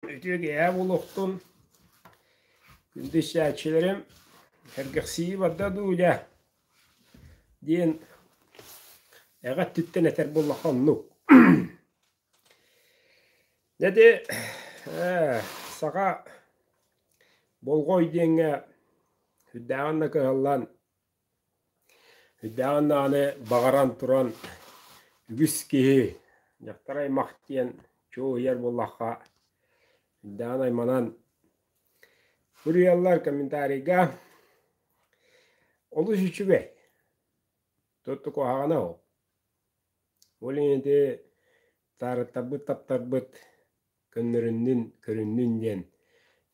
Үтүө киэһэ булуохтун. Күндүстээччилэрим, сэргэхсийии барда дуу дьэ, диэн эҕэ өттүттэн этэр буоллахха оннук. Дьэди саха болгой диэҥҥэ үрдээҕин да кыһаллан Өйдөөҕүн даҕаны баҕаран туран үгүс киһи дьахтар аймах диэн чуоһуйар буоллахха өйдөөн айманан суруйаллар комментарийга олус үчүгэй туттук куһаҕана ол ол ити таарыттарбыт таптарбыт көннөрүннүн көрүннүн диэн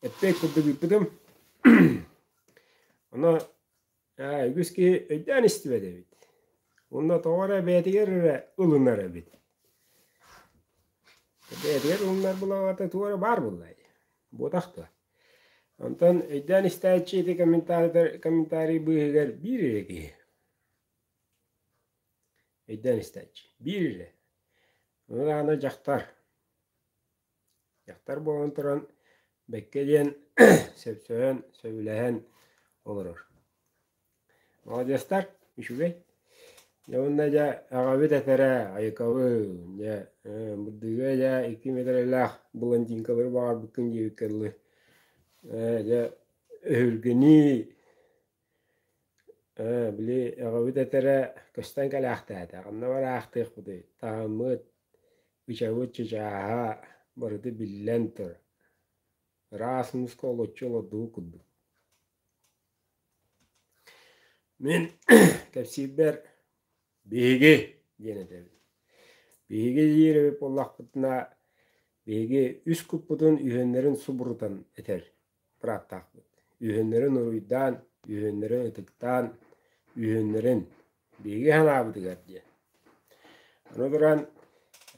эппэт курдук ыыппытым ана үгүс киһи өйдөөн истибэт эбит уонна тоҕо эрэ бэйэтигэр эрэ ылынар эбит бэйэтигэр ылынар булаҕата тугу эрэ баар буоллай буотах дуо онтон өйдөөн истээччи ити комментарийдар комментарий быыһыгар биир эрэ киһи Өйдөөн истээччи. Биир, ырааһына дьахтар. Дьахтар буолан туран бэккэ диэн сөпсөйөн, сөбүлэһэн олорор. Молодецтар үчүгэй. Дьэ уонна дьэ аҕабыт этэрэ Айыкабын, дьэ Бырдыга дьэ икки миэтэрэлээх блондинкалары баҕарбыккын диэбиккэ дылы дьэ өһүргэнии Ээ, били эҕэбит этэрэ көстөн кэлээхтээтэ, ханна бары аахтыахпытый, таһыммыт, ычабыт чычааһа барыта биллэн турар. Ыраас муска олоччу олордубут курдук. Мин кэпсиирбэр биһиги диэн этэбин. Биһиги диир эбит буоллахпытына, биһиги үс куппутун үһүөннэрин субурутан этэр. ыраахтаахпыт. Үһүөннэрин уруйдаан, үһүөннэрин ытыктаан, үһүөннэрин биһиги санаабытыгар диэн. Аны туран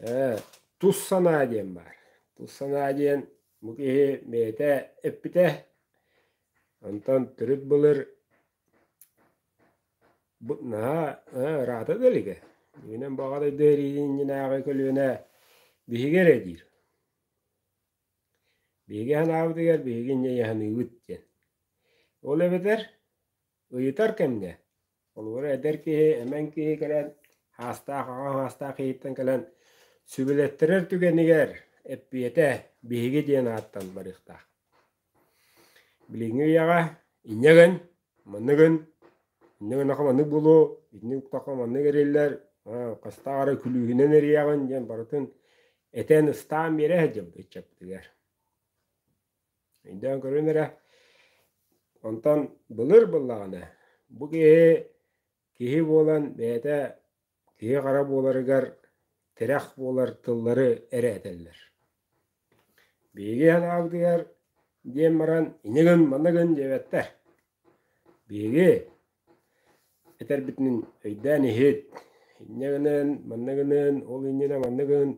ээ, тус санаа диэн баар. Тус санаа диэн бу киһи бэйэтэ эппитэ, онтон төрүт былыр бу наһаа ээ, ыраата да илигэ. Бүгүнэн баҕа дойду эриитин иннинээҕи көлүөнэ биһиги эрэ диир. Биһиги санаабытыгар биһиги ньыйаханыыбыт диэн. Ол эбэтэр ыйытар кэмҥэ холобура эдэр киһи, эмэҥ киһи кэлэн саастаах аҕа саастаах киһиттэн кэлэн сүбэлэттэрэр түгэнигэр эппиэтэ биһиги диэн ааттан барыахтаах. Билиҥҥи үйэҕэ инньэ гын, манныгын Иннэ гыннаха маннык буолуо, итинник уктахха маннык эриллэр, хастаах эрэ күлүүһүнэн эрийэҕин диэн барытын этэн ыстаан биэрэ сылдьыбыт ыччаппытыгар. Өйдөөн көрүн эрэ, онтон былыр быллаҕына бу киһи киһи буолан бэйэтэ киһи хара буоларыгар тирэх буолар тыллары эрэ этэллэр биһиги анаагдыгар диэн баран иñигин маныгын диэбэттэр биһиги этэрбитин өйдөөн иһит инньэгинэн манныгынын ол иннинэ манныгын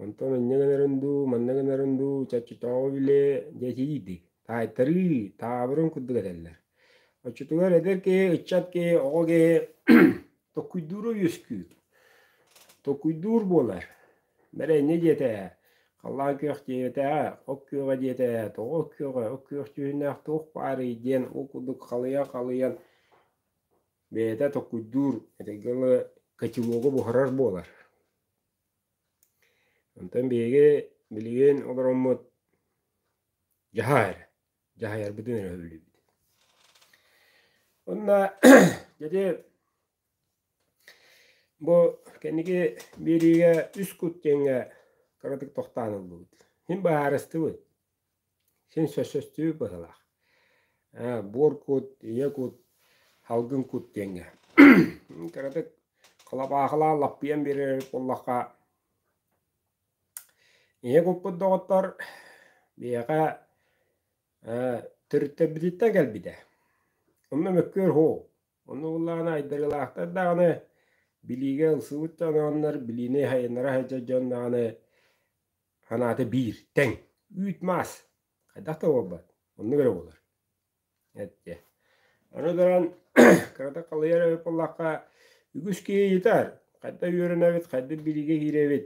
онтон инньэгинэрин дуу манныгынарын дуу чаччытообу билэ диэтиийдик таайтарыы таабырын курдук этэллэр оччотугар эдэр киһи ыччат киһи оҕо киһи Токуйдуура үөскүүр. Токуйдуур буолар. Мэрэнньэ диэтэ, халлаан күөх диэтэ, ок күөҕэ диэтэ, тоҕо ок күөҕэ, ок күөх түһүннээх туох баарый диэн ол курдук халыйа-халыйан бэйэтэ токуйдуур этэҥҥэ ыла кочевогу буһарар буолар. Онтон биһиги билигин олороммут дьаһаар дьаһайарбытын өрө үбүлүйбүт. Онна дьэди бу кэнники биэриигэ үс кут диэҥҥэ кыратык тохтоон ыллыбыт. Син быһаарыстыбыт. Син сөссөстүүбүт быһылаах. Буор кут, ийэ кут, халгын кут диэҥҥэ. Кыратык халапаахылаан лаппыйан биэрэр буоллахха Ийэ куппут доҕоттор биһиэхэ төрүттэбититтэн кэлбитэ. Онно мөккүөр уһу. Ону ыллаҕына айдарыылаахтар даҕаны билиигэ ылсыбыт дьоннор, билиини айаннара сылдьар дьон даҕаны санаата биир, тэҥ, үүт-маас. Хайдах да буолбат, оннук эрэ буолар. эттэ аны баран кыратык халыйар эбит буоллахха үгүс киһи ыйытар хайда үөрэнэбит хайда билиигэ киирэбит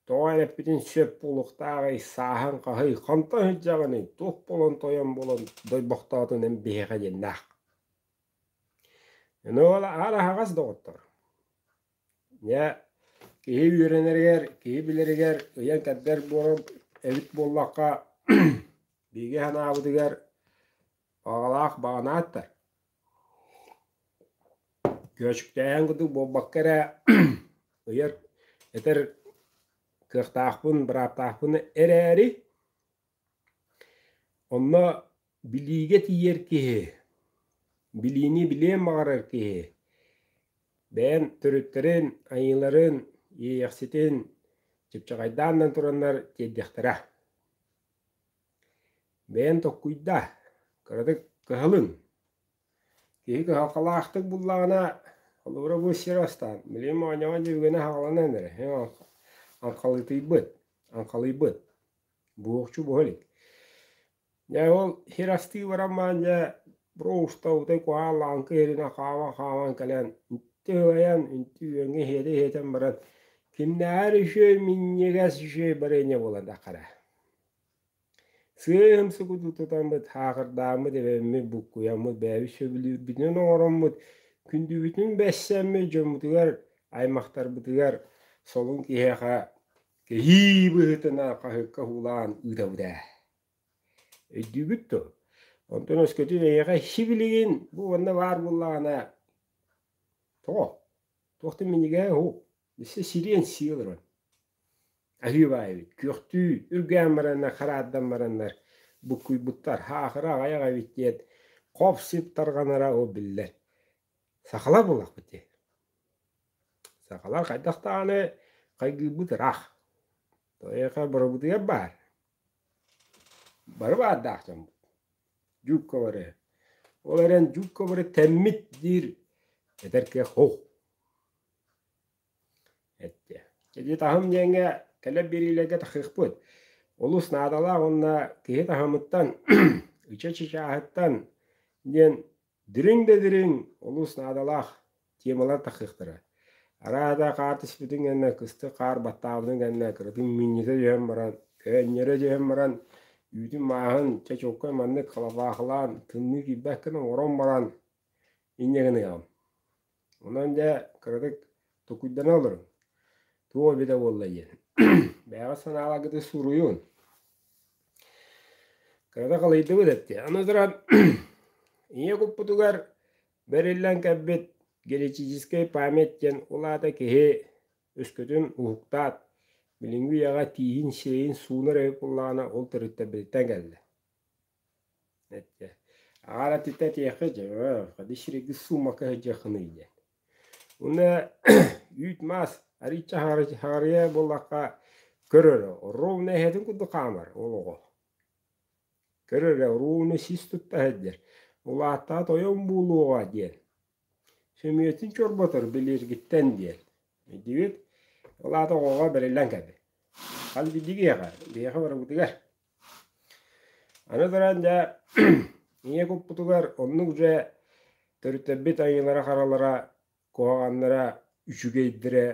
тоҕо эрэппитин сөп буолуохтааҕый сааһыҥ хаһый ханта сылдьаҕыный туох буолан тойон буолан дойбохтоотун эн биһиэхэ диэннээх аны ол аһаҕас доҕоттор Дьэ, киһи үөрэнэригэр, киһи билэригэр ыйан-кэрдэр буолар эбит буоллахха, биһиги санаабытыгар баҕалаах баҕанааттар. Күөчүктээһин курдук буолбакка эрэ ыйар, этэр кыахтаахпын, бырааптаахпын эрээри, Онно билиигэ тиийэр киһи, билиини билиэн баҕарар киһи бэйэн төрүттэрин, айыыларын, иэйэхситин чыпчаҕайдаан да тураннар тиэрдиэхтэрэ. Бэйэн толкуйда, кыратык кыһалын. Киһи кыһалҕалаахтык буллаҕына, холобура бу сир астаан, билим оонньоҕон дьүһүгүнэ аһаҕаланан эрэ, аңхалыытыйбыт, аңхалыйбыт. буохчу буһа илик. Дьэ ол сир астыы баран баран дьэ броуста утай куһаалаан кыһырына хааман хааман кэлэн үнтү ыйан үнтү үөҥҥэ иһиэтэ иһитэн баран кимнээҕэр үчүгэй минньигэс үчүгэй барыанньа буолан таххара. Сыыһым сукуту тутаммыт хаахырдааммыт эбэммит буккуйаммыт бэйэбит сөбүлүүрбүтүн оҥороммут күндүбүтүн бэссэммит дьоммутугар аймахтарбытыгар солун киһиэхэ Кэһии быһыытынан хаһыакка һуулаан ыытабыт ээ. Өйдүүгүт дуо? Онтон өскөтүн эйиэхэ сибилигин бу уонна баар буоллаҕына тоҕо? Туохтан минньигээ уһу? Билсэ сириэн сии олорон. Аһыы баайбыт, күөхтүү үргээн бараннар, хараардан бараннар буккуйбуттар, хаахыра аҕайах эбит диэн хоп-сип тарҕанара ол биллэр. Сахалар буоллахпыт дии. Сахалар хайдах даҕаны хайгыырбыт ыраах. Эйиэхэ бырабыытыйап баар. Бары баардаах дьоммут. Дьуукка бары. Ол эрэн дьуукка бары тэммит диир эдэр киһи хоһ. Эттэ. Ити таһым диэҥҥэ кэлэр биэриилэргэ тахсыахпыт. Олус наадалаах уонна киһи таһымыттан, ыча чычааһыттан диэн Дириҥ да дириҥ, олус наадалаах темалар тахсыахтара. Арааһата хаартыспытын кэннэ кыстык хаар баттаабытын кэннэ кыратык минньитэ түһэн баран, көөнньөрө түһэн баран, үүтүн мааһын чэ чуолкай маннык халабаахылаан тымныы киирбэккин оҥорон баран инньэ гыныаҕым Онон дьэ кыратык тукуйдана олоруҥ. Туох эбитэ буолла диэн. Бэйэҕэ санааларгытын суруйун. Кырата халыйдыбыт эттэ. Аны туран, ийэ куппутугар бэриллэн кэлбит генетическэй память диэн улаата киһи өскөтүн уһуктаат, билиҥҥи үйэҕэ тииһин-сиэйин суунар эбит буоллаҕына, ол төрүттэрбититтэн кэллэ. Эттэ аҕар атыта этиэхэ дьэ ходи сирэйгэ суумака сылдьыаххыный диэн уонна үүт-маас арыычча аһаарыйа буоллахха көр эрэ ровно эһэтин курдук хаамар ол оҕо көр эрэ ровно сис тутта сылдьар улааттаҕа тойон буолуоҕа диэн сөмүйэтин чорботор билиэргиттэн диэн өйдүүбүт ол аата оҕоҕо бэриллэн кэлбит хас биирдиги эҕэ биһиэхэ барыбытыгар Аны туран дьэ ийэ куппутугар оннук дьэ төрүттэбит айыылара-харалара куһаҕаннара үчүгэйдэрэ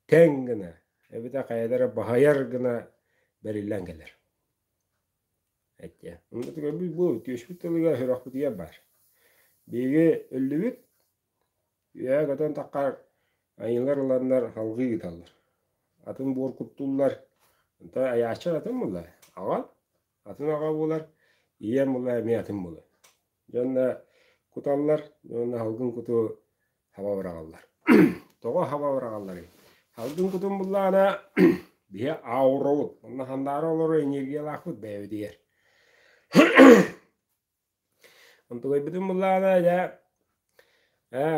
тэҥ гына эбэтэ хайата эрэ баһыйар гына бэриллэн кэлэр. Оннуктук бу үтүөспүт тылыгар сүрэхпитигэр баар. Биһиги өллүбүт Үөһэ көтөн таххар айыылар ыланнар салгыы ыыталлар. Атын буор куттуллар. Онтон айааччы атын мыла аҕа, атын аҕа буолар, ийэм мыла эмиэ атын мыла. Дьонно куталлар, дьонно салгын куту саба быраҕаллар. Тоҕо саба быраҕалларый? Салгын кутун буллаана биһи аауроҕут, онно хандаары олорор энергиялаахпыт бэйэбитигэр. Антылайбытын буллаана дьэ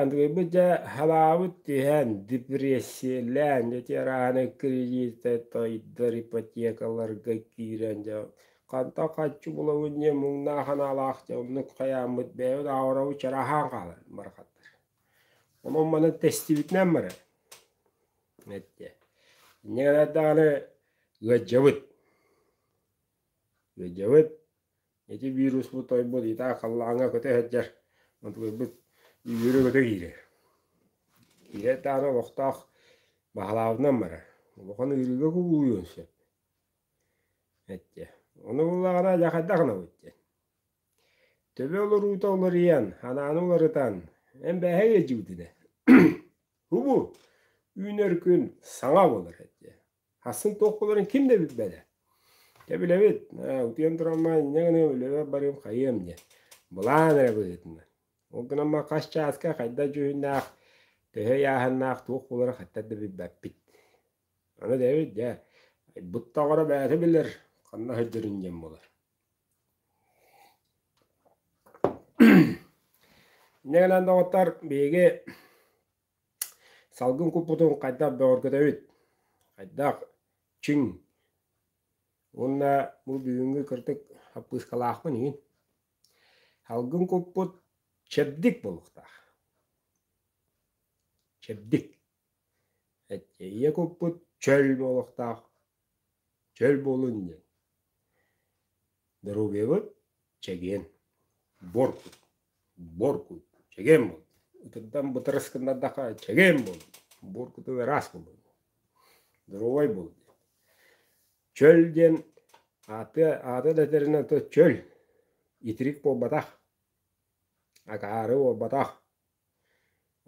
антылайбыт дьэ халаабыт түһэн депрессиялаан дьэ тиэрааһынай кредиты тойдор ипотекаларга киирэн дьэ хантан хаччы булабын диэн муҥнаах санаалаах дьэ оннук хайааммыт бэйэбит аҕаларабыт чарааһаан хаалан барахаттар онон манан тэстибитинэн баран эттэ инньэ гынар даҕаны ыалдьабыт Өйдөбүт, ити вируспут тойбут итаа халлааҥҥа көтө сылдьар, онтуларбыт үөрэ-көтө киирэр. Киирэ ытаары олохтоох баһылаабытынан барар. Улахан ыарыыга кубулуйуон сөп. Эттэ, ону буллаҕына дьэ хайдах гынабыт диэн. Төбө олоруута уларыйан, анааны уларытан, эн бээһэ иэдьибитинэ, хубу, үүнэр күн саҥа буолар эттэ. Хасыл толкуларын ким да билбэдэ. Чэ билэбит, утуйан турама инньэ гына өлөбөр барыым хайыам диэн. Былаан эрэ быһыытынан. Ол гынан баран хас чааска хайдах дьүһүннээх, төһө ыйааһыннаах туох буолара хаттар да билбэппит. Аны дэбит дьэ, буттаҕара бэйэтэ билэр ханна сылдьарын диэн буолар. Инньэ гынан доҕоттор биһиги Салгын куппутун хайдах бөҕөргөтөбүт? Хайдах чиҥ уонна бу бүгүҥҥү кырдык хаппыыскалаахпын иһин салгын куппут чэбдик буолуохтаах. Чэбдик. Эйэ куппут чөл буолуохтаах. Чөл буолун диэн. Доруобуйабыт чэгиэн, буоргут, буоргут чэгиэн буол. Ытырдан бытарыс гыннардахха чэгиэн буол. Буоргуту ыраас буол. Доруобай буол. Чөл диэн ааты ааты да этэринэн то чөл итирик буолбатах акаары буолбатах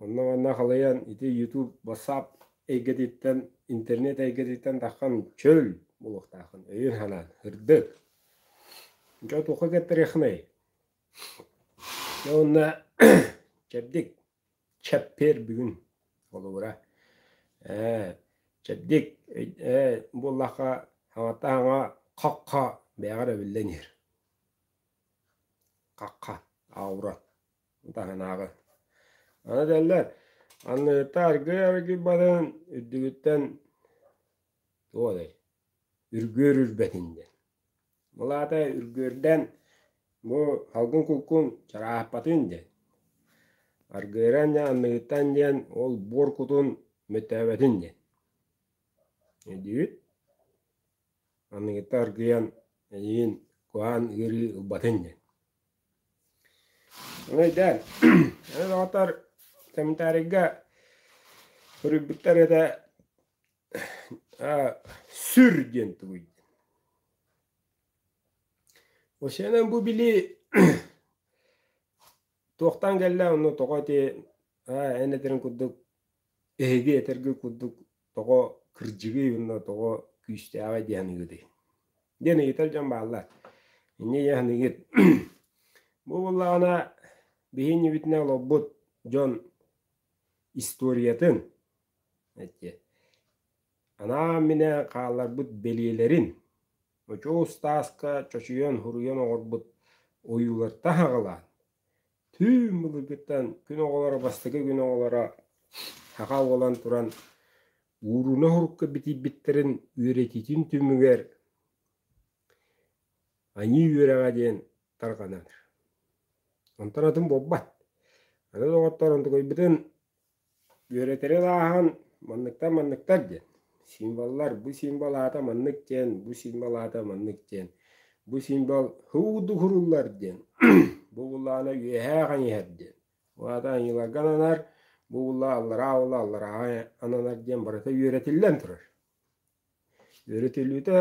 Онно-манна халыйан ити YouTube, WhatsApp эйгэтиттэн, интернет эйгэтиттэн таххан чөл булуохтаахын өйүн-санаан ырдык. Дьэ туохха кэттэриэхинэй? Уонна чэбдик чэппиэр бүгүн холобура. Ээ, чэбдик ээ буоллахха хаҥата хаҥа хахха бэйэҕэр эбиллэн иһэр. Хахха, аура. таһынааҕы. Аны этэллэр, анныыта аргыый аргыый барын үрдүгүттэн туох этэй, үргүөр үрбэтин диэн. Мылаата үргүөрдэн бу салгын кулкун чараахпатын диэн. Аргыыран дьэ анныыттан диэн ол буор кутун мөттөөбөтүн диэн. Диир анныыта аргыйан эйиин куһаан ыарыы ылбатын диэн. Өйдөөн, эн доҕотор сэминтээрийгэ суруйбуттар этэ сүр диэн тулуйдун. Вообще бу билии туохтан кэллэ, ону тоҕо ити эн этэрин курдук эһиги этэргит курдук тоҕо кырдьыгый уонна тоҕо күүстээҕий диэн аныгытый? диэн ыйытар дьон бааллар. Инньэ ийэ аныгыт. Бу буоллаҕына биһиннибитинэ олорбут дьон историятын анаан минэ хаалларбыт бэлиэлэрин очоо устааска чочуйан хуруйан оҥорбут ойуулар таһаҕалаан Түү былыргыттан күн оҕолоро бастакы күн оҕолоро саха буолан туран ууруна урукка битийбиттэрин үөрэтиитин түмүгэр аньыы үөрэҕэ диэн тарҕанар. Онтон атын буолбат. Аны доҕоттор онтукайбытын Үөрэтэрин ааһан манныктан манныктар диэн символлар бу символ аата маннык диэн бу символ аата маннык диэн бу символ һуу духуруллар диэн бу буллаана үөһээ хаҥыйар диэн бу аата аньыыларга ананар бу булла аллараа булла аллараа ананар диэн барыта үөрэтиллэн турар үөрэтиллиитэ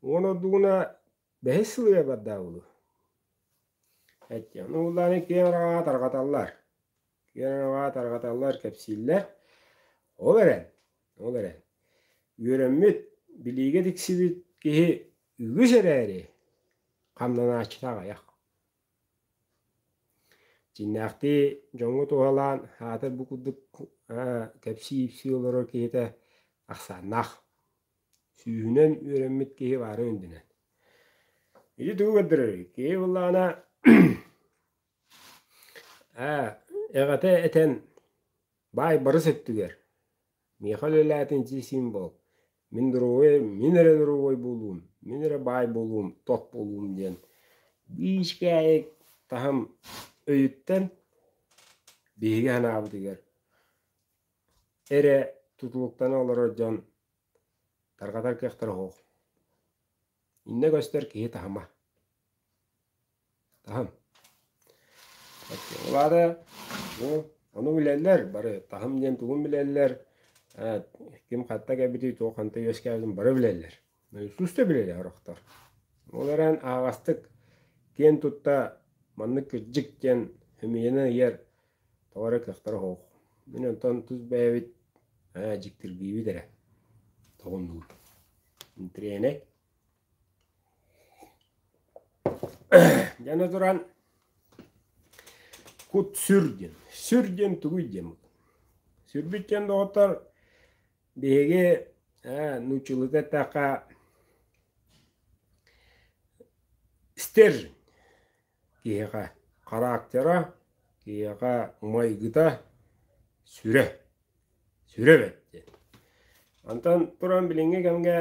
уон ордугуна бэһис сыл ыйбардаах буолуо эттиэхинэ буллааны киэҥ араҕаҕа тарҕаталлар Киэрва тарҕаталлар, кэпсииллэр. Ол эрэн, ол эрэн, үөрэммит, билиигэ тиксибит киһи үгүс эрээри, хамнанааччыта аҕыйах. Дьиҥнээхтии дьоҥҥо туһалаан аата бу курдук кэпсии-ипсии олорор киһитэ ахсааннаах. Сүүһүнэн үөрэммит киһи баара үрдүнэн. Ити тугу көрдөрөр? Киһи буллаҕына Ээ, эҕэтэ этэн, баай барыс өттүгэр, миэхэ үлэлээтин дии-сиим буол, мин доруобай, мин эрэ доруобай буолуум, мин эрэ баай буолуум, тот буолуум диэн биишкээйик таһым өйүттэн биһиги санаабытыгар эрэ тутулуктана олорор дьон Тарҕатар кыахтара суох. Иннэ көстөр киһи таһыма. Таһым. Ол аата бу ону билэллэр, бары таһым диэн тугун билэллэр, ким хатта кэлбитий, туох ханта үөскээбитин бары билэллэр. Устуста билэлэр орохтор. Ол эрэн аһаҕастык киэн тутта маннык кырдьык диэн өмүйэнэн ыйар Тоҕо эрэ кыахтара суох. Мин онтон тус бэйэбит ээ дьиктиргиибит эрэ тоҕуннугур. Тренер Дьэни туран кут сүр диэн. Сүр диэн тугуй диэн бу. Сүрбүттэн доҕоттор биһиги ээ нууччалыы эттэххэ стержень. Киһиэхэ характера, киһиэхэ майгыта сүрэ, сүрэ бэрт диэн. Онтон туран билиҥҥи кэмгэ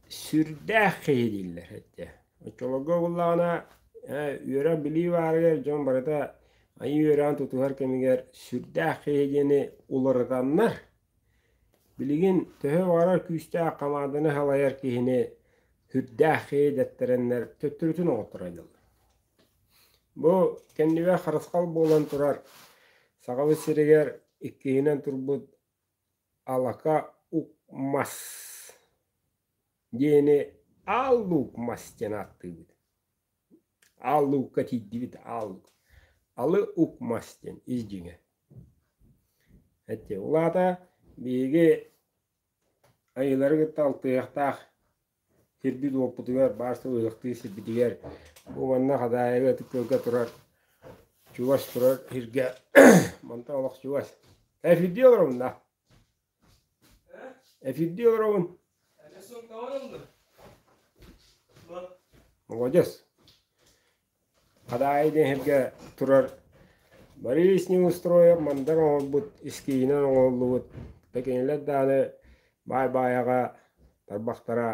сүрдээх киһи дииллэр эттэ. Оччолорго буоллаҕына үөрэн билии баарыгар дьон барыта айыы үөрэҕин тутуһар кэмигэр сүрдээх киһи диэни уларытаннар Билигин төһө баҕарар күүстээх хамаанданы салайар киһини сүрдээх иэдэттэрэннэр төттөрүтүн оҥотторойдоллор. Бу кэннибэ харысхал буолан турар Сахабыт сиригэр иккиһинэн турбут Алака УКМАС диэни Аал Лук мас диэн ааттыыбыт. аал луука тиийдибит аал алы укмас диэн ис дьиҥэ эти улаата биһиги айылары кытта алтыһыахтаах сирбит уоппутугар баар сылыахтыы сирбитигэр бу манна Хадаайаҕа ытыктыылга турар чугас турар сиргэ мантан олох чугас эфирдиэ олоромна Эфирдии олоробун. Молодец. Хадаайы диэн сиргэ турар Борис Неустроев мандар оҥорбут искиинэн оҥоһуллубут текинилэр дааны баай-баайаҕа тарбахтара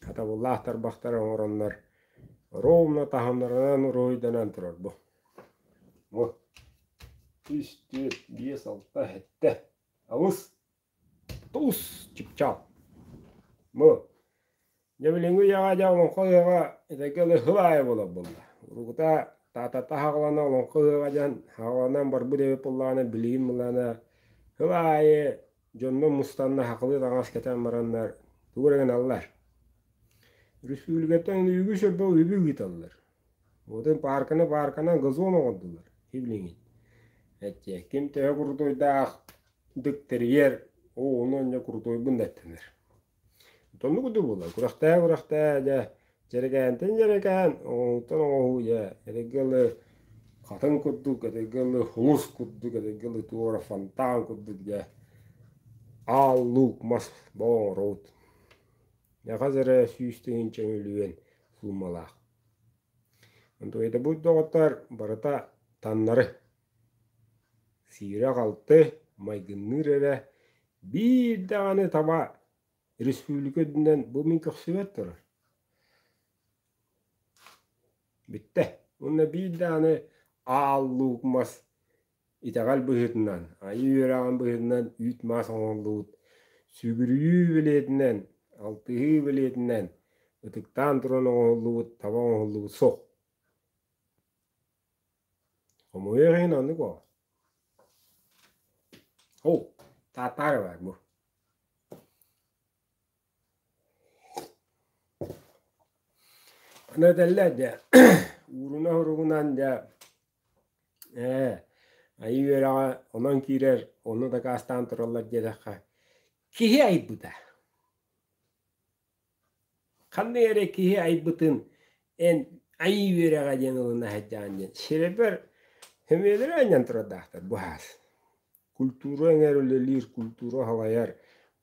хатабыллаах тарбахтара оҥороннор ровно таһымнарынан уруһуйданан турар бу. Үс, түөрт, биэс, алта, сэттэ. Алыс, тус чыпчаал. Бу, дьэ билиҥҥи үйэҕэ дьэ олоҥхо ыһыаҕа этэҥҥэ эле сыл аайы буолар буолла. Урукута таатата хаҕалана олоҥхо ыһыаҕа дьон хаҕаланан барбыт эбит буоллаҕына билигин буоллаҕына сыл аайы дьонно мустанна хахылыы таҥас кэтэн бараннар тугу эрэ гыналлар. Өрөспүүбүлүкэттэн үгүс өлбө үбү ыыталлар. Вот им паарканы паарканан газон оҥордулар билигин эти ким төһө курутуйдаах дыктэрийэр оо ону онньо курутуйбун даттанар итонну курдук буолар күрэхтээ күрэхтээ дьэ дьэрэкээнтэн дьэрэкээн оҥоһууттан оҥоһуу дьэ этэҥҥэ ылы хатыҥ курдук этэҥҥэ ылы хомус курдук этэҥҥэ ылы туора фонтан курдук дьэ аал луук мас бо оҥороут саха сирэ сүүс тыһыынча мөлүйүөн суумалаах. Дойдобут доҕоттор барыта таннары. Сиирэ-халты, майгынныыр эрэ биир даҕаны таба республика үрдүнэн бу мин көхсүбэт турар. Бүттэ. Уонна биир даҕаны ааллуукмас Итэҕэл быһыытынан, айыы үөрэҕин быһыытынан үүт-маас оҥоһуллубут, сүгүрүйүү бэлиэтинэн, алтыһыы бэлиэтинэн, ытыктаан туран оҥоһуллубут, таба оҥоһуллубут суох. Хомойуох иһин оннук oo. Оу, Таатаара баар бу. Аны этэллэр дьэ, ууруна-уругунан дьэ Ээ, айыы үөрэҕэ онон киирэр, ону дакаастаан тураллар диэтэххэ, киһи айбыта. Ханнык эрэ киһи айбытын эн айыы үөрэҕэ диэн ылына сылдьаҕын диэн сирэбэр сөмүйэлэрэ анньан турардаахтар бу саас. Культура эҥэр үлэлиир, культура салайар,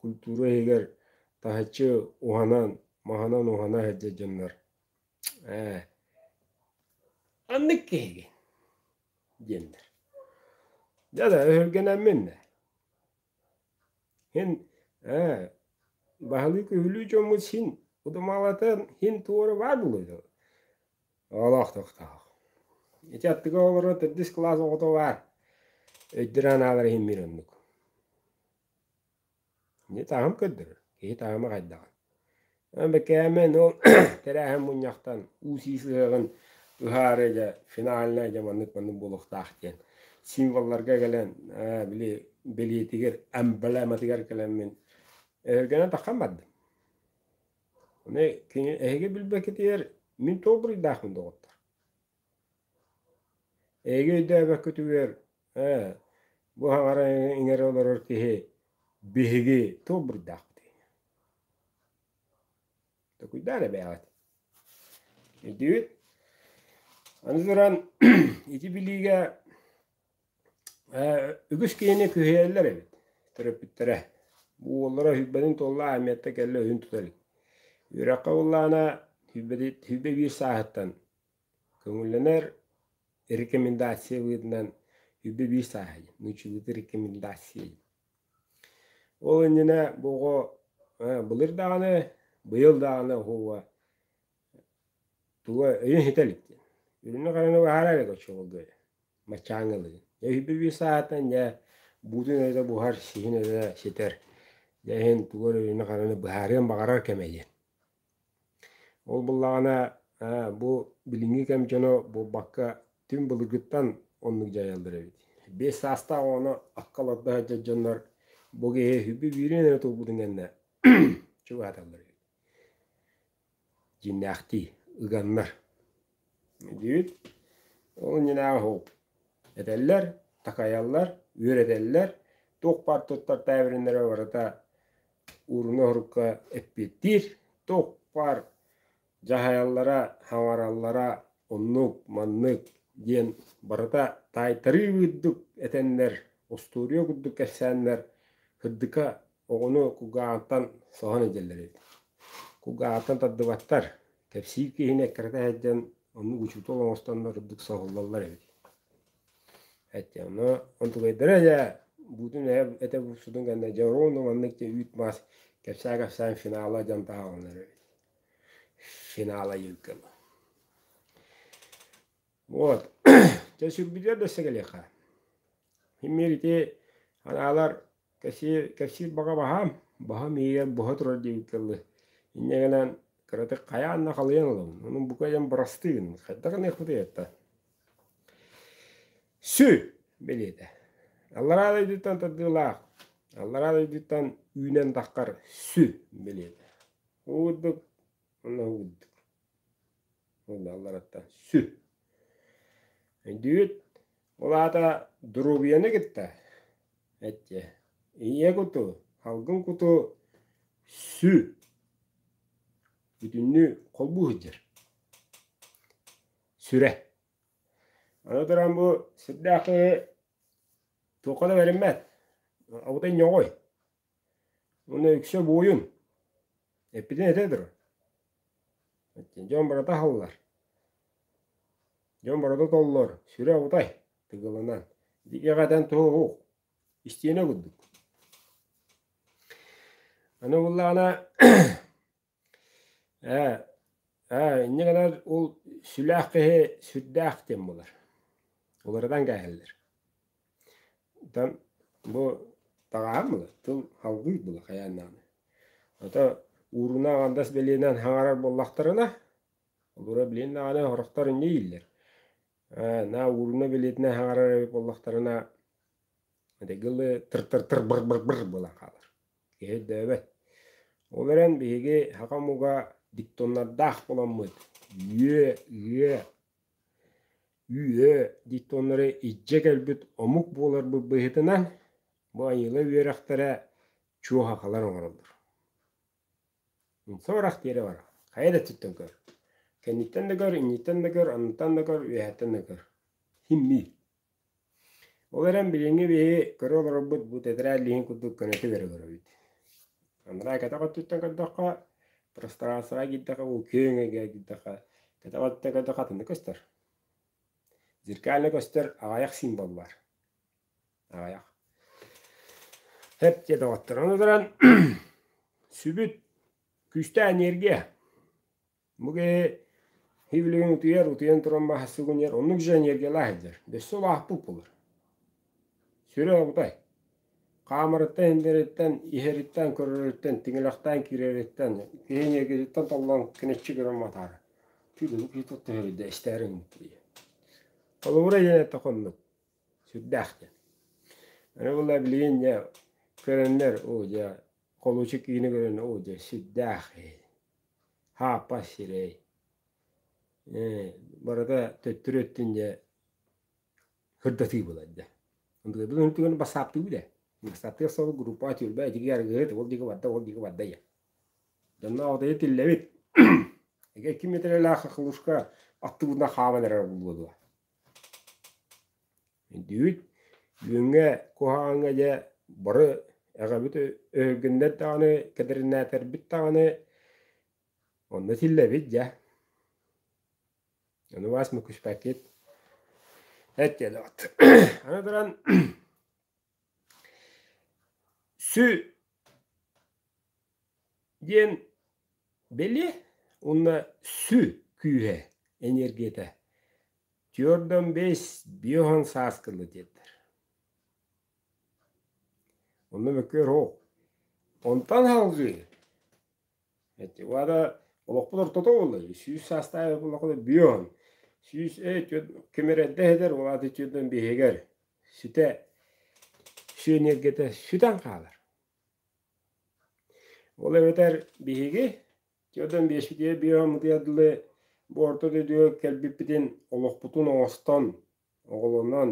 культура иһигэр таһыччы уһанан, маһынан уһана сылдьар дьоннор Ээ, ханнык киһигин? диэннэр. Дьэ да өһүргэнэммин да. Һин ээ баһылыы күһүлүү дьоммут син удумалатан һин туоруба дылы оҕолоохтохтоох. Ити аттыга олорор төрдүс кылаас оҕото баар. Өйдөрө анаалар иһин биир оннук. Дьэ таһым көрдөрөр, киһи таһыма хайдаҕын. Бэкээмэн ол тэрээһин мунньахтан уу-сиис ыһыаҕын ыһаары дьэ финальнай дьэ маннык маннык буолуохтаах диэн символларга кэлэн ээ били бэлиэтигэр эмблематыгар кэлэммин өһүргэнэн таххан бардым. Аны кини эһиги билбэккитигэр мин туох буруйдаахпын доҕоттор? Эйиги өйдөөбөккүтүгэр, ээ, бу хаҥара иҥэрэ олорор киһи биһиги тулбурдаахпытый? Токуйдаа да бэйэҕит. Ирдиибит. Аны туран, ити билиигэ э, үгүс киһини күһэйэллэр эбит төрөппүттэрэ. Бу уоллара сүүрбэтин туолла Амиятта кэллэ өһүн тутар. Үөрэххэ ыллаана сүүрбэ сааһыттан Көҥүллэнэр рекомендациябытынан үбү биир сааһый, нучулыты рекомендацией. Ол иннинэ бу оҕо былыр даҕаны, быйыл даҕаны уһуга туга өйүн иһитэ илик диэн. Үрүнү-хараны баһаарар эгэ очоҕурга мачаангылыгын. Дьэ үһүбү биир сааһыттан дьэ буутун өрө буһар, сиһин өрө ситэр. Дьэ иһин тугу эрэ үрүнү-хараны быһаарыан баҕарар кэмэ диэн. Ол буллаҕына бу билиҥҥи кэм дьоно буолбакка түҥ былыргыттан оннук дьайаллар эбит. Биэс саастаах оҕону акка олордо сылдьар дьоннор бу киһи үһүбү биириэн эрэ тулбутун кэннэ чугаһаталлар эбит. Дьиҥнээхтии ыганнар диир. Ол иннинээҕи этэллэр, такайаллар, үөрэтэллэр. Туох баар туттар тээбириннэрэ барыта уурунна-урукка эппиэттиир. Туох баар дьаһайаллара, хаҥараллара оннук, маннык диэн барыта таайтарыы курдук этэннэр, устуоруйа курдук кэпсээннэр кырдыка Оҕону кулгаҕыттан соһон илдьэллэр эбит. Кулгаҕыттан тардыбаттар. Кэпсиир киһини эккирэтэ сылдьан оннук учуутал оҥостоннор үрдүк соһуллаллар эбит. Эттэ ону онтугайдара дьэ буутун этэ булсутун кэннэ дьэ оруонну маннык дьэ үүт мас кэпсээ кэпсээн финала дьон таһаҕаланар эбит. Финала юлкала. Вот. Дьэ сүрбүтүгэр дөссе кэлиэххэ. Мин ити анаалар Кэсиир, кэпсиир баҕа баһаам, баһам иһигэр буһа турар диэбит тылы инньэ гынан кыратык хайаан да халыйан ылабын. Онон бука диэн бырастыын хайдах гыныахпытый ата? Сү бэлиэтэ. Аллараа дойдуттан тардыылаах, аллараа дойдуттан үүнэн таххар сү бэлиэтэ. Уу курдук Онно уурдук. Уунна аллараттан сүр. Өйдүүт, ол аата доруобуйаны кытта эттиэ. Ийэ куту, халгын куту сү. Бүтүннүү холбуу сылдьар. Сүрэ. Аны туран бу сирдээх киһи туохха да бэриммэт. Абытай ньоҕой. Уонна үксэ буойун. Эппитин этэ тур. Дьон барыта аһыллар. Дьон барыта толлор. Сүрэ утай тыгылынан. Икэҕэ этэн туһуһух. Истиэнэ курдук. Аны буллаҕына Ээ, ээ, инньэ гынар ол сүлээх киһи сүрдээх диэн буолар. Уларытан кээһэллэр. Оттон бу таҕаһын була, тыл халгый була хайааннаҕына. Ото ууруна андас билиэнэн хаҥарар буоллахтарына, олоро билиэн даҕаны сорохтор инньэ ииллэр. Ээ, на ууруна билиэтинэ хаҥарар эбит буоллахтарына, дэгили тыр-тыр-тыр-быр-быр-быр буолан хаалар. киһи өйдөөбөт. Ол эрэн биһиги саха омуга диктоннардаах буоламмыт үө, үө, үө диктоннары илдьэ кэлбит омук буоларбыт быһыытынан бу айыыла үөрэхтэрэ чуохахалар оҥороллор. Соҕурах диэри бар. Хайа да өттүттэн көр. Кэнниттэн да көр, инниттэн да көр, анныттан да көр, үөһэттэн да көр. Химмий. Ол эрэн билиҥҥи биһи көрө олорорбут бу тэтэрээт лиин курдук көнөтү көрө олоробут. Ыныраа кэтэх өттүттэн көрдөххө, пространствоҕа киирдэххэ, бу күөҥҥэ киирдэххэ, кэтэх өттүттэн көрдөххө атыннык көстөр. Зеркально көстөр аҕайах символ баар. Аҕайах. Эп дьэ доҕотторо, аны туран сүбүт, күүстээх энергия. Бу киһи ивлигин утуйар, утуйан туран маһа сугуньар, оннук жаньергелаах идер. Бөссө улаахпыт булар. Сүрэ обутай. Хаамарыттан иһиллэриттэн, иһэриттэн, көрөрүттэн, тиҥилэхтээн киирэриттэн, киһиниэкититтэн толлон кенеччи көрөн матаара. Түүлүлүк киһи тоттоһөрүйдэ эстээрин иттилиэ. Холобура диэн этэ хоннук. Сүрдээх диэн. Аны була билиин дьэ көрөннөр, оо дьэ, холучу киини көрөн, оо дьэ, сүрдээх ээ. Ааппа сирэй, э барыта төттөрү өттүн дьэ хырдатыы буолар дьэ. Былыр түгэн бассааптыы да. Бассааптыгар соҕус группа түөлбэ итиги аргыһыт, ол диги барда, ол диги барда я. Донна одайы тиллэбит. Эге ким метрелаах хахлушка аттыбына хааман эрэр буолуо. Түүн үүҥҥэ куһаҕаҥҥа дьэ бары эҕэбит өһүргүннэр даҕаны кэдэринаатэрбит даҕаны онно силлэбит дьэ ону убаас мөккүспэккит эттиэлэбит аны туран Сü диэн били уонна сü күүһэ энергията твердом весь биоһан сааскылы диэтэр. Онно мөккүөр оһох. Онтан салгыы Уода олохпут ортото буолла үһү. Сүүс саастаах буоллахпына бүөһүн. Сүүс ээ түөрт кимирэрдэ эһэтэр, ол ааты түөртөн биһигэр ситэ сүө ньиргэтэ сүтэн хаалар. Ол эбэтэр биһиги түөртөн биэспитигэр бүөһүн мытыйардылы бу орто дойдуга кэлбиппитин олохпутун оҥостон Оҕолонон,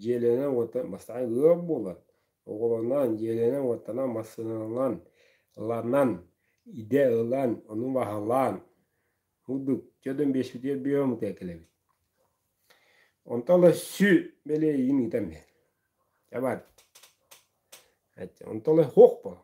дьиэлэнэн уота бастаан ыал буолан, оҕолонон, дьиэлэнэн уоттанан, массыынанан, ыланан, идэ ылан, ону баһылаан, мурдук дьодун биэспитигэр бүөмүтэ кэлэбит. Онтон ыла сү бэлиэйин ыытам мен. Чабар. Онтон ыла хуох буолла.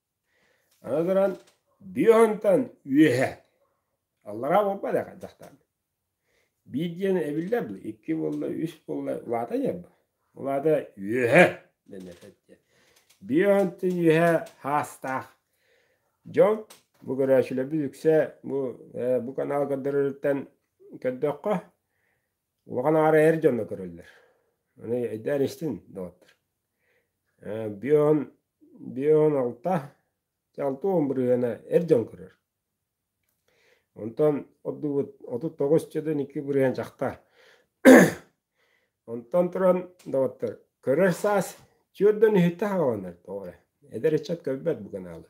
Аны туран, биоһынтан үөһэ аллараа буолбат ээ дьахтаан. Биир диэн эбиллэр дуу, икки буолла, үс буолла, улаата диэн улаата үөһэ дэнэрэ диэн. Биоһынтын үөһэ хаастаах. Дьон бу көрөөччүлэрбит үксэ бу, э, бу канал көрдөрөрүттэн көрдөххө, Улахан аара эр дьоно көрөллөр. Аны эйдээн истин, доҕоттор. Э, Бүон, Бүон алта, алта уон бырыһыана эр дьон көрөр. Онтон ордубут отут тоҕус чөдөн икки бырыһыан чахта. Онтон туран, доҕоттор, көрөр саас, чүөрдөн үһүттэ хаҕаланар тоҕо эрэ. Эдэр ыччат көрбөт бу канаалы.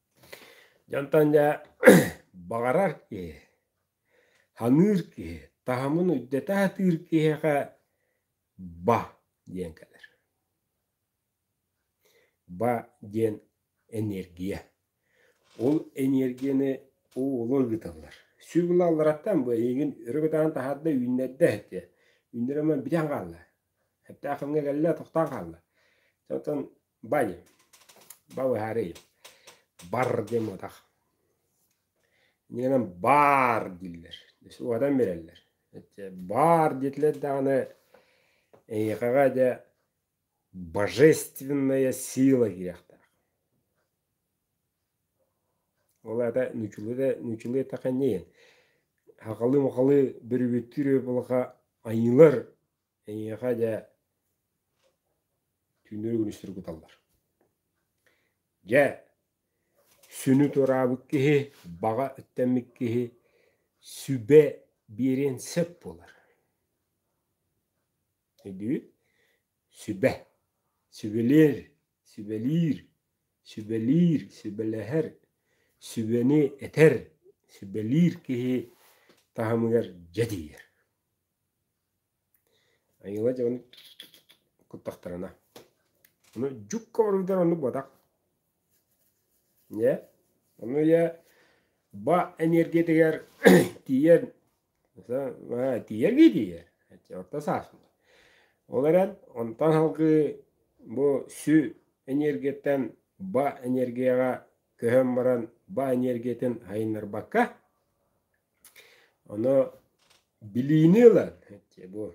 Дьантан дьэ баҕарар киһи, саныыр киһи, таһымын өйдөтө сатыыр киһиэхэ ба диэн кэлэр. Ба диэн энергия. Ол энергияны уулар ыыталлар. Сүр булаллараттан бу эйигин өрө көтөҕөн таһаарда үүннэрдэ этиэ. Үүннэрэ онон бүтэн хаалла. Сөптөөх кэмҥэ кэллэ, тохтоон хаалла. Оттон Бани, балыһарыйым, бар диэн буотах. Нинам баар дииллэр. Уотан биэрэллэр. Баар диэтилэр даҕаны эйиэхэҕэ дьэ божественная сила киириэхтээх. Ол аата ньучулуйда ньучулуй таханьыйын. Хахалыы-махалыы бүрүбүттүүр буолаха айыылар Эйиэхэ дьэ түүннэри күнүстэри куталлар. Дьэ, сүнү тураабыт киһи, баҕа үттэммит киһи сүбэ биэриэн сөп буолар. Өйдүүт? Сүбэ. Сүбэлиир, сүбэлиир, сүбэлиир, сүбэлэһэр, сүбэни этэр, сүбэлиир киһи таһымыгар дьэ тиийэр. Айыыла дьэҕэни куттахтарына. Ону дьукка оргутар оннук буотах. Дьэ, ону ийэ ба энергиятыгар тиийэн тиийэргии тиийэр. Орто саасын. Ол эрэн онтон салгыы бу сү энергияттан ба энергияҕа көһөн баран ба энергиятын сайыннарбакка Ону билиини ылан бу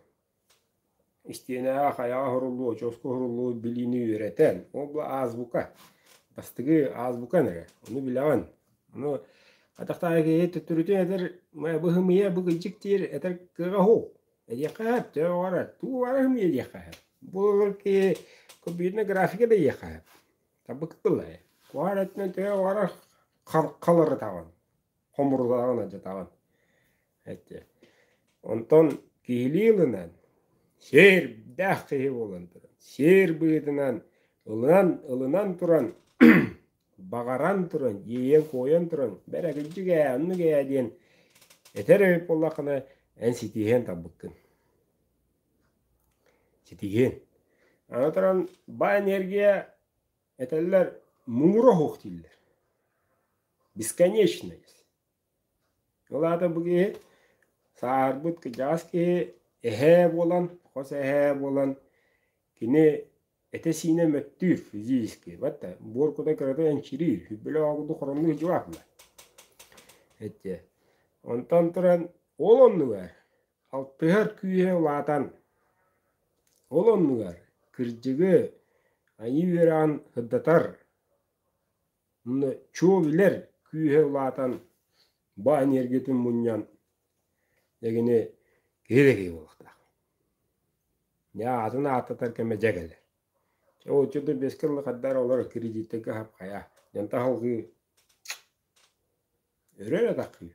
истиэнэҕэ хайаҕа суруллуу, очуоска суруллуу билиини үөрэтэн, ол була аазбука, бастыгы аазбукан эрэ, ону билэҕин. Ону атахтааҕы киһи төттөрүтүн этэр быһымыйа бу кыдьык диир этэр кыаҕа уһул. Эдиэххэ сөп, төһө оҕорор тугу баара сымыйа диэххэ сөп. Бу олорор киһи компьютернай графика да диэххэ сөп. Табыкы тыллай. Куһаҕан өттүнэн төһө оҕорор халларытаҕын. хомурудаҕын адьатаҕын эти онтон киһилии ылынан сиэрдээх киһи буолан туран сиэр быһыытынан ылынан ылынан туран баҕаран туран иэйэн куойан туран бэрэгилдьик ээ оннук ээ диэн этэр эбит буоллаххына эн ситиһиэн тарбыккын ситиһиэн аны туран баай энергия этэллэр муҥура оһох дииллэр бесконечность. Ол аата бу киһи сааһырбыт кырдьаҕас киһи эһээ буолан, хос эһээ буолан кини этэ-сиинэ мөттүүр физически. Ватта буор кута кырата энчириир, бүлө оҕуду хороннуу дьулаахна. Эттиэ. Онтон туран ол оннугар алтыһар күүһэ улаатан ол оннугар кырдьыгы айыы үөрэҕин сырдатар чуобилэр күүһэ улаатан баанньыэргэтин мунньан дэгини киһи да киһи буолуохтаах атын ааттатар кэмэ дьэ кэлэр оччо да бэс кылла хадаар олор кредиттэргэ хапхайа дьон таһылгыы өрө да таххыы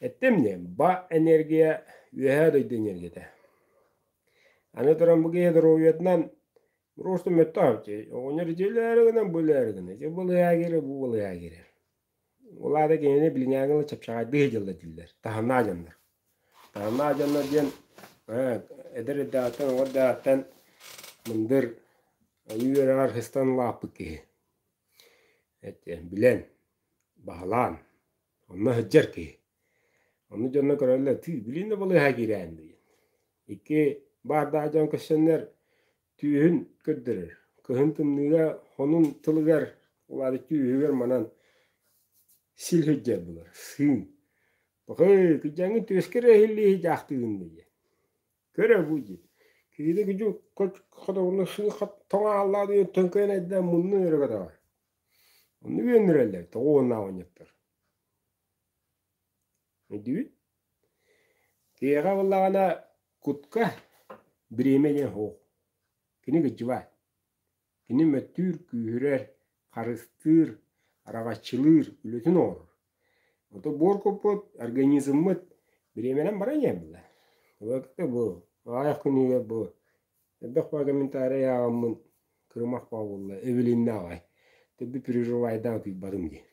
Эттимни, ба энергия үөһээ дойду энергията. Аны туран бу киһи доруобуйатынан просто мөттөөччү. Оҕонньор дьиэлээри гынан булээри гына. Дьэ былыйаа киирэ бу былыйаа киирэ. Улаада кинини билиҥээҥила чапчаҕайдыы дьылла диллэр. Таһанаа дьаннар. Таһанаа дьаннар диэн эдэр эрдэҕиттэн оҕо эрдэҕиттэн мындыр ойуу үөрэҕэр хыстан улааппыт киһи. Эттиэн, билэн, Баһылаан, онно сылдьар киһи. Ону дьоно көрөллөр, тыы, билигин да балыыһа киирээм диэн. Икки баардаах дьон көссөннөр түүһүн көрдөрөр. Кыһын тымныыга, хонун тылыгар, улаатык түөһүгэр манан сил сылдьар булар, сыын. Бакый, кыдьаҥы түөскэр эһиллии дьаахтыгын диэн. Көрө бу диэн. Киһиде күдьү хотоҕуну сыы тоҥааллаах диэн төҥкөйөн айдаан мунну өрө көтөҕөр. Онно үөнүрэллэр, тоҕо уоннааҕынньыктар. Өйдүүбүт. Киһиэхэ буллаҕына кутка бириэмэ диэн оһох. Кини кыдьыбаат. Кини мөттүүр, күүһүрэр, харыстыыр, араҕаччылыыр, үлэтин оҥорор. Ото буор куппут, организммыт бириэмэнэн баран иһэн биллэр. Бу аҕыйах күнүгэр бу Элбэх баа комментарий ааҕаммын кырымах баа буолла эвелиннэ аҕай тэби переживайдаан утуйбатым дии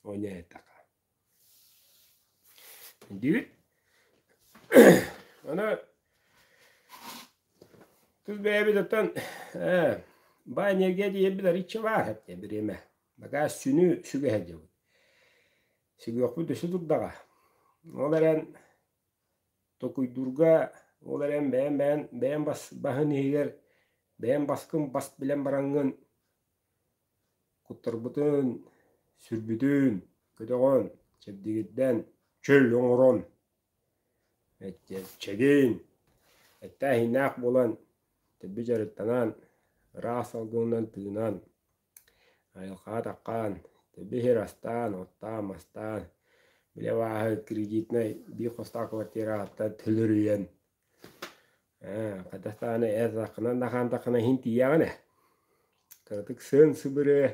оня этаха диибит аны тус бэйэбититтэн ээ баа энергия диэбит ариччевааһа бириэмэ бакаас сүнү сүгэһэ дьыбыт сүгүөхпүт өсө турдаҕа ол эрэн Токуйдуурга ол эрэн бэйэм бэйэм бэйэм бас басын иһигэр бэйэм баскын бас билэн бараҥҥын куттарбытын сүрбүтүн көтөҕөн чэбдигирдэн чөл оҥорон чэгиэн эттээх иһиннээх буолан тэлби дьарыктанан ыраах салгынынан тыынан Айылҕаан-атаххаан, тэбиһэр астаан, оттоон-мастаан, били абааһы кредитнай биир хостоох квартираһыттан төлөрүйэн ээ хата даҕаны ээтэххинэ да хаантаххына иһин тиийэҕин ээ. Кыратык сыан-сыбырыа,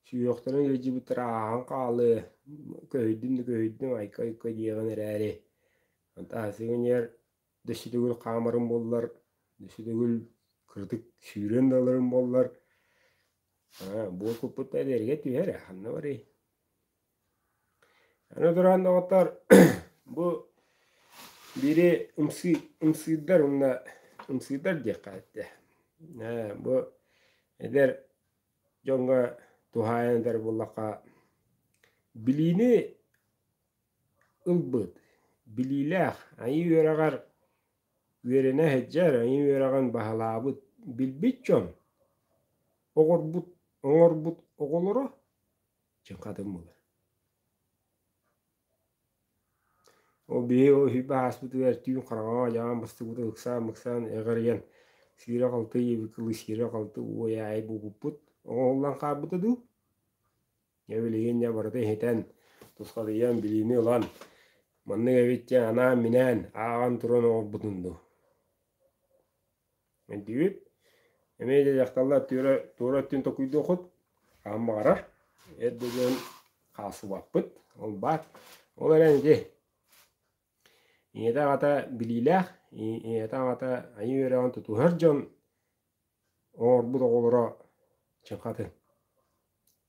сүһүөхтэрин илдьибиттэр ааһан хаалыа, көһүйдүм да көһүйдүм, айка-айка диэҕин эрээри, фантастика иннигэр да сүтүгүл хаамарым буоллар, да сүтүгүл кырдык сүүрүөн да ыларым буоллар, буор куппутта эдэргэ түһэрэ, ханна барый? Аны туран доҕоттор, бу бири ымсыы, ымсыырдар уонна ымсыырдар диэххэ этэ. бу эдэр дьоҥҥо туһаайан этэр буоллахха, билиини ылбыт. Билиилээх, айыы үөрэҕэр үөрэнэ сылдьар, айыы үөрэҕин баһылаабыт, билбит дьон, оҥорбут, оҥорбут оҕолоро чыҥхатын булар. Ол биһи ол үһүйбэ ааспытыгар түүн хараҥаҕа одьаҕан быстыбыта ыксаан мыксаан эҕэрийэн сиирэ-халты иэбит кылы сиирэ-халты уой аайы булбуппут. Оҥоһуллан хаалбыта дуу? Дьэ билигин дьэ барыта иһитэн, тусхатыйан, билиини ылан, маннык эбит диэн анаан-минээн, ааҕан туран оҥорбутун дуу. Өйдүүбүт. Эмиэ дьэ дьахталлар туора туора өттүн токуйдуохут, хаһан баҕарар эр да дьон хаалсыбаппыт, ол баар. Ол эрэн ити ийэтэ аҕата билиилээх, ийэтэ аҕата айыы үөрэҕин тутуһар дьон оҥорбут оҕолоро чыҥхатын.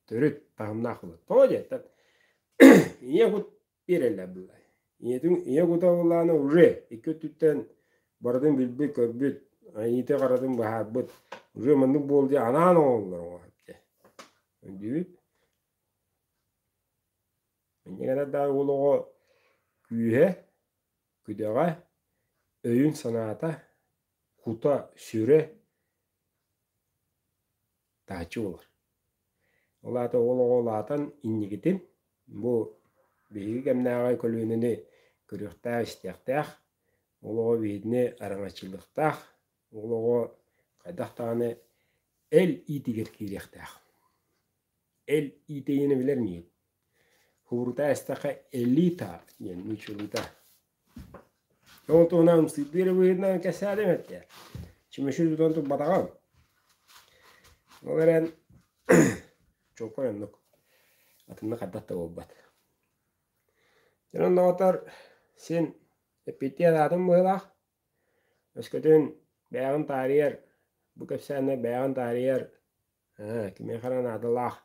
Төрүт таһымнаах былыт. Тоҕо диэттэр ийэ кут биэрэллэр былай. Ийэтин ийэ кута ыллаана уже икки өттүттэн барытын билбит-көрбүт, айыыты харатын быһаарбыт уже маннык буолди анаан оҥоһуллар оҥоһук дии. Өйдүүбүт. Минньигэс ардааҕы уол оҕо күүһэ, күдэҕэ, өйүн-санаата, кута, сүрэ тааччы буолар. Ол аата уол оҕо улаатан инникитин бу биһиги кэмнээҕи көлүөнэни көрүөхтээх-истиэхтээх, уол оҕо биһигини араҥаччылыахтаах, уол оҕо хайдах даҕаны эл иитигэр киириэхтээх. эл иитэйиини билэр миин хуурута эстэхэ элита диэн мичулута ол туһунан ымсыырдыыр быһыытынан кэсээтим этте чүмөчү тутан турбатаҕым ол эрэн чулкай оннук атыннык хардах да буолбат дьонун доҕотор син эппиэттиир аатын быһыылаах өскөтүн бэйэҕин таарыйар бу кэпсээннэр бэйэҕин таарыйар Ээ, кимиэхэ эрэ наадалаах.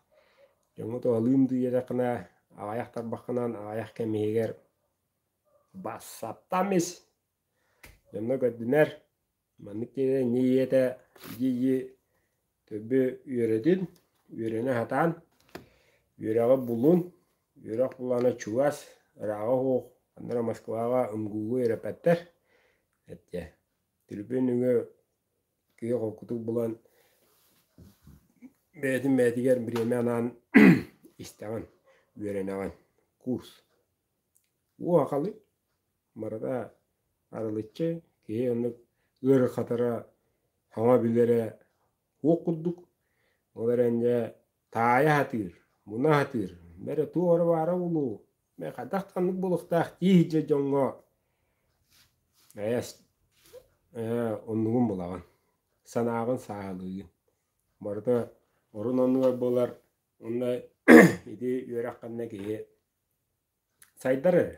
Дьоҥҥо туһалыын тиийдэххинэ, аҕайах тарбаххынан аҕайах кэм иһигэр бассаптам ис. Дьоно көрдүнэр, маннык дьиэ инньэ ийэтэ дии-дии төрбү үөрэтин, үөрэнэ сатаан, үөрэҕи булун, үөрэх булаана чугас, ырааҕа суох, ханна эрэ Москваҕа МГУ-га үөрэппэттэр. Эттэ, трибүн үҥүө киһи холкутук булан бэйэтин бэйэтигэр бириэмэ анаан истэҕин үөрэнэҕин курс уу ахалы барыта арылыччы киһи оннук ыарырҕатара саҥа билэрэ уох курдук ол эрэн дьэ таайа сатыыр, муна сатыыр, бэрэ туох эрэ баара буолуо, мэ хайдах ханнык буолуохтаах дии сидьэ дьоҥҥо ээ ээ оннугун булаҕын, санааҕын сааһылыыгын. Барыта орун-оннугар буолар уонна ити үөрэх ханна киһи сайдар эрэ,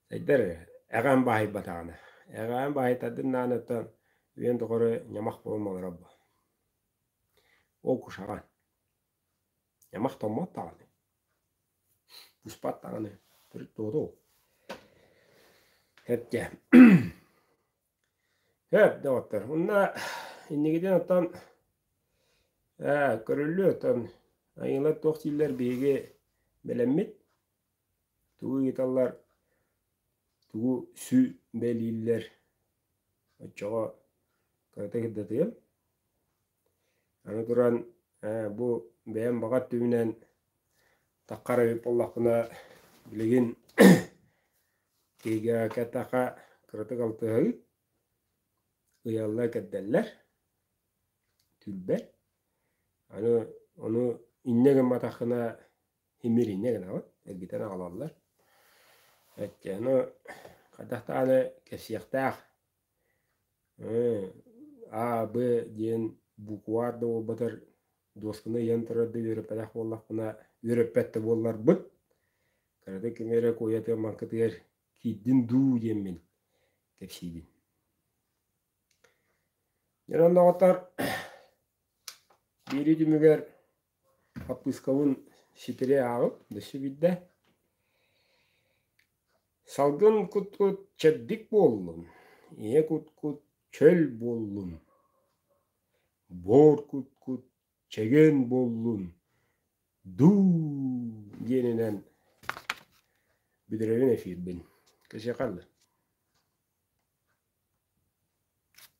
сайдар эрэ, эҕээн баһыйбатаҕына, эҕээн баһыйтардын ааны оттон үйэн тухары ньамах буолан олорор буол Ол кушаҕа аймах томмот даҕаны быспат даҕаны төрүт дуоду ол эргэ һөөп доҕоттор уонна инникитин оттон ээ көрүллү оттон айыылар туох дииллэр биһиги бэлэммит Тугу ыйыталлар, тугу сү бэлииллэр, оччоҕо кырата кырдатыам. Аны туран бу бэйэм баҕа өттүбүнэн таххара эбит буоллахпына билигин киһиэхэ кэтэххэ кыратык алтыһабыт, ыйаллар-кэрдэллэр, түөлбэ. Аны, ону инньэ гымматаххына Имиринэ гынаҕыт, эргитэн аҕалаллар. Өттөөну хайдах даҕаны кэсиэхтээх а, б диэн букваар да буолбатар дуосканы ыйан турар да үөрэппэтэх буоллахпына, үөрэппэт да буолларбын, кыратык кими эрэ куойатыгар, маҥкытыгар киирдин дуу диэммин кэпсиибин. Дьон оннооҕоттор биэрии түмүгэр Хаппыыскабын ситири ааҕып өссө биирдэ салгын кут-кут чэбдик буоллум, ийэ кут-кут чөл буоллум, боор кут-кут чэгиэн буоллун дуу диэнинэн бүдүрэрин эфирбин. Кэсиэхэ аллы